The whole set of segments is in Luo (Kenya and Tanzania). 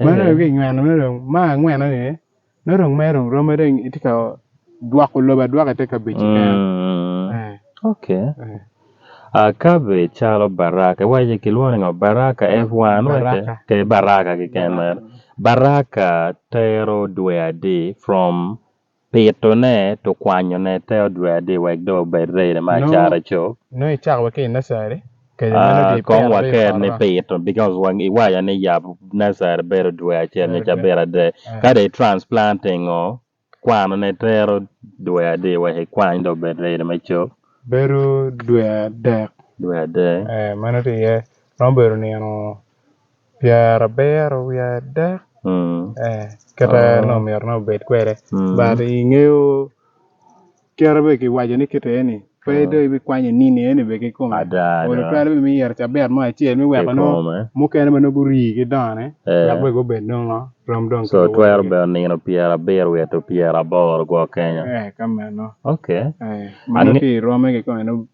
Meno dong kinyweno meno dong ma angweno ni meno dong mere dong rome dong itye ka dwoko lobo adwoka ite kabedo keken. Mm. Eh, Ok. eh. Ah, cabbage calo baraka. Iwaco kilwongo ni ngo? Baraka F1 wace? Baraka. Te baraka keken mere. Baraka tero dwe adi from Pitone to kwanyone te odwedi wek do obed rene ma acara cop. Nongo icako wa ki i nursery. Ah, kong waker ni pito because wang iwaca ni yap nasari bedo dwe acel nyo ca bedo adek kade i transplanting o kwano ne tero dwe adi wek ikwany do bed ready me cop bedo dwe adek dwe adek eh mano tye iye romo bedo nino Pyera biro wiye adek mm. eh, kata oh. no myero nongo bed kwede mm. but ingeyo kere be kiwaco ni kite ni pe oh. do ibi kwanyo nini eni be kikom odo twero be miyero cabet mo acel mi weko no mukene ma nogo rii ki done eh. dok weko bed nongo rom dong so twero be nino pyera abiro weto pyera aboro gwo kenya eh kamano okay eh mano ki rome ki kome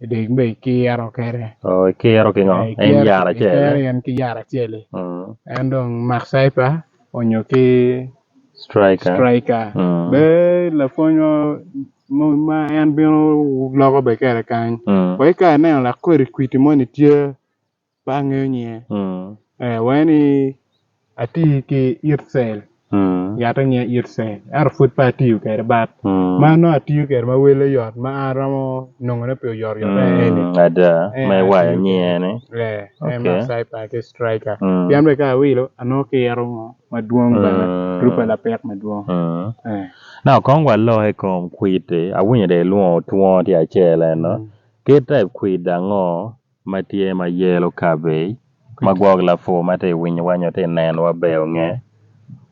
Dek me ikiro kere. Oh, ikiro ki ngo? Eh, en yar acel. Ikiro en ki yar acel. Mm. En dong Mark Cypher onyo ki striker. Striker. Mm. Be la fonyo ma en bino loko be kere kany. Mm. Ko ikare neno la kweri kwiti mo ni tye pe angeyo nyinge ee wange ni ati ki itcel yat ange itcel ento pud pe atiyo kwede bat ma nongo atiyo kwede ma wele yot ma an aromo nongone pe oyot yot eni ada ma iwayo nyinge ni ee en ma cyper ki striker pien bene ka awilo anongo kiro mo madwong bene twubbe lapek madwong ee na kong walok i kom kwidi awinyo dong ilwongo twongo tye acel eno kit type kwidi ango ma tye ma yelo kabej ma gwok lapur ma ti winyo wa nyo ti neno wa ber nge.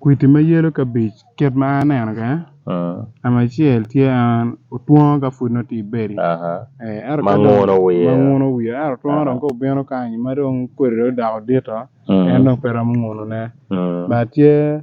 Kwiti ma yelo kabej kit ma an aneno kwede namba acel tye en otwongo ka pud nongo ti bedi ma nguno wiye ma nguno wiye ento otwongo dong ka obino kany ma dong kodi dong odoko dito en dong pe romo nguno ne but tye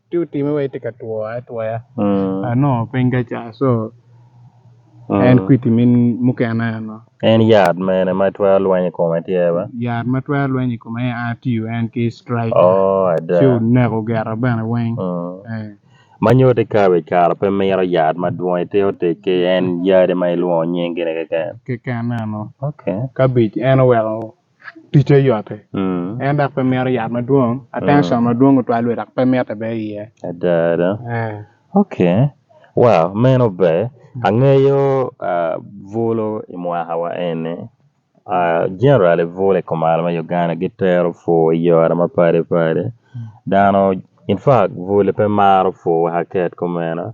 ti utime wa iti ka two atwoya Mm. ano piny ka ca so Mm. en kwiti min mukene ano En yat mene ma twero lweny i kome tye ba? yat ma twero lweny i kome a tiyo en ki strike Oh, ada. ci oneko gera bene weng Mm. Eh, Ma nyo te kabe i kare pe miro yat madwong ite otic ki en yadi ma ilwongo nying gine keken. keken ano Okay. kabic en oweko ticce yotti en dok pe mito yat madwong attention madwong otwal lwe dok pe mitte be iye ada ada Eh. ok wow meno ber angeyo ah, bulo i mwakawa eni ah, generally bulo i kumalo me Uganda gitero pur i yore mapadi padi dano in fact bulo pe maro pur wek aket kumeno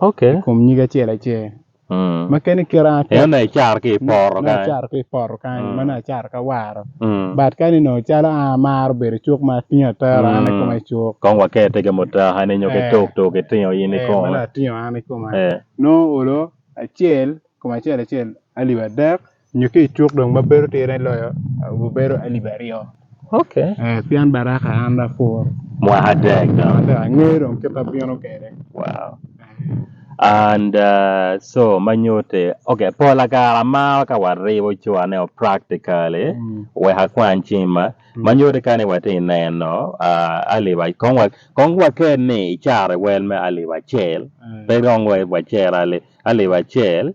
Okay. I kom nyig acel acel. Mm. Ma kene kira atek. Eno na icar ki i poro Na kany. acar ki i poro kany, Mm. ma na acar ka waro. Mm. But kani no calo a maro bedo cuk ma atingo atero an i Mm. koma i cuk. Kong wakete ke mutaha ni nyo ke Eh. tok tok itingo in i Eh, ma kong. na atingo an i koma. Eh. No olo acel, koma acel acel, alip adek, nyo ki icuk dong ma bedo tire loyo gubedo alip aryo okay eh, pien baraka an da pur mwaka dek dong ada angeyo dong kit abino kede wow and uh, so manyute okay pola kara mar ka waribo cwane o practically Mm. weka kwan cima manyute kani wati neno uh, aliba kong wa kong waker ni icara wel me aliba cel Eh, pe dong wa wacera ali aliba cel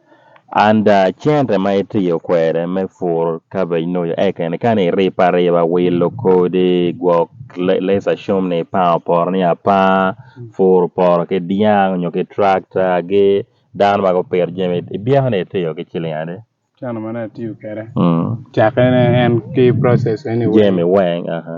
And cente ma itiyo kwede me pur cabbage nyo oyo ekeni kani iripe ariba wilo kodi gwok let's assume ni ipango poto ni apanga puro poto ki dyang nyo ki tractor gi dano ma gupito jami ibyeko ni itiyo ki ciling adi? Cente ma dong atiyo kwede Mm. cakkene en ki process ene weng. Jami weng aha.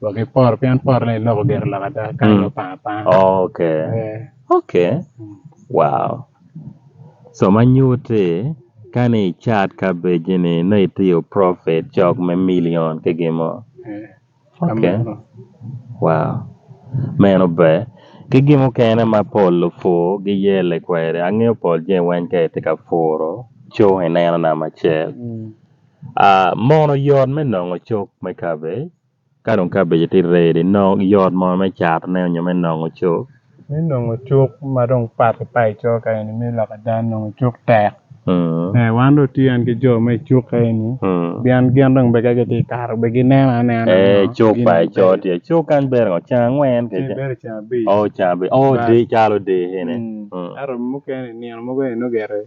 wa ki poro pien poro ne loko gero lok ada ka Mm. yo panga panga okay Eh, okay mm. wow so ma nyuti kani i chat kabeji ni ne itiyo profit cok me million ki gimo Eh, okay kamano. wow meno ber ki gimo kene ma pol lupu giyele kwede angeyo pol je weny ka itye ka puro co ineno nama cel Mm. Ah, mono yot me nongo cuk me cabbage ka dong cabbage tye ready nongo yot mono me catone nyo me nongo cuk Me nongo cuk ma dong pat ki pat i coka ka eni me lok ada nongo cuk tek. Mm, Eh, wan dong tye ki jo me cuk ka eni. mm. Pien gin dong bene ka gitye ka kato bene gineno anena. Eh, nongo cuk gin pa i bene. coo tye cuk kany bere ngo ceng angwen Tye kece bene ceng abic. o cabi o Bas. di calo di ene Mm. Mm. Ento mukene nino mogo eno gire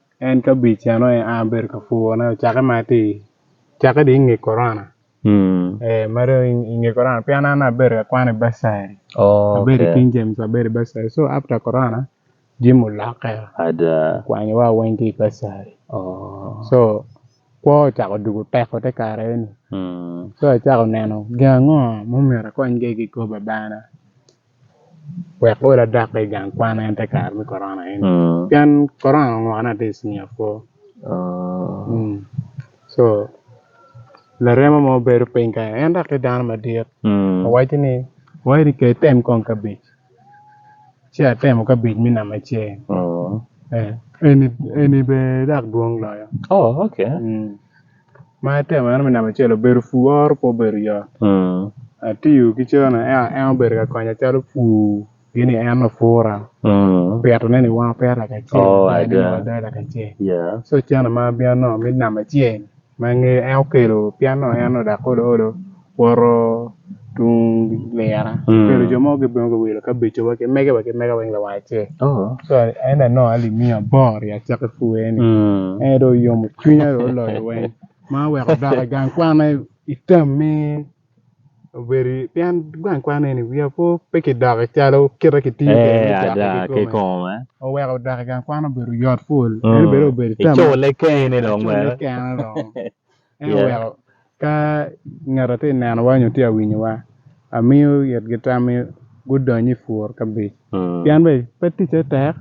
En ka bic eno en a bedo ka pur ne ocake ma ti cake di inge korona. Mm. Eh mare inge korona pian an abedo ka kwane basari. Oh, Abedo okay. King James abedo basari. So after korona jim olokke Ada. kwanyo wa weng ki basari. Oh. So kwo ocako dugo teko te kare ni. Mm. So acako neno gin ango mumira kony ge ki koba bana. wek ol adakki i gang kwan en te kare me korona eni pien korona onongo ne aye i cinia kwo co laremo mo bedo piny kany en dok tye dano madit awaco ni ka item kong kabej ci atemo kabej me namba acel eni bene dok dwong loyo. Ma itemo eno me namba acel obedo pur oro pe obedo yot atiyo ki cene ento en obedo ka konya calo pur gini en lapura pito ne ni weng apeto laka acel so cene ma bino nongo me namba acel ma angeyo en okelo pien nongo en onongo odak olo olo. Woro tung lira. Mm. Pero jo mogo gibino ka wilo kabeco wa ki mege wa ki mega weng lawa ce. Oh. So en da no ali miya bor ya cak i fuwe ni. Mm. En do yomo cwinya do loyo weng. Ma weko doka gang kwane itam mi obedi pien gang kwane ni wiya po pe ki doka calo kita ki tiyo Eh, ada ke kome. Oweko doka gang kwane obedo yot full. En Mm. bedo obedo itam. Icule kene dong Icule mere. kene dong. En oweko ka ngeta ti nenowa nyo ti awinyowa amiyo it gi tam mi gudony i pur kabic pien be pe ticce tek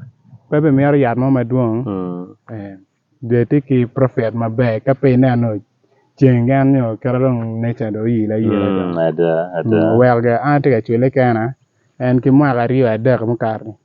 pe be mito yat mo madwong dye ti ki profit maber ka pe ineno ceng en nyo kite dong nature dong oyile ayila dong oweko ge an ati ka cwile kena en ki mwaka aryo adek mukato-ni.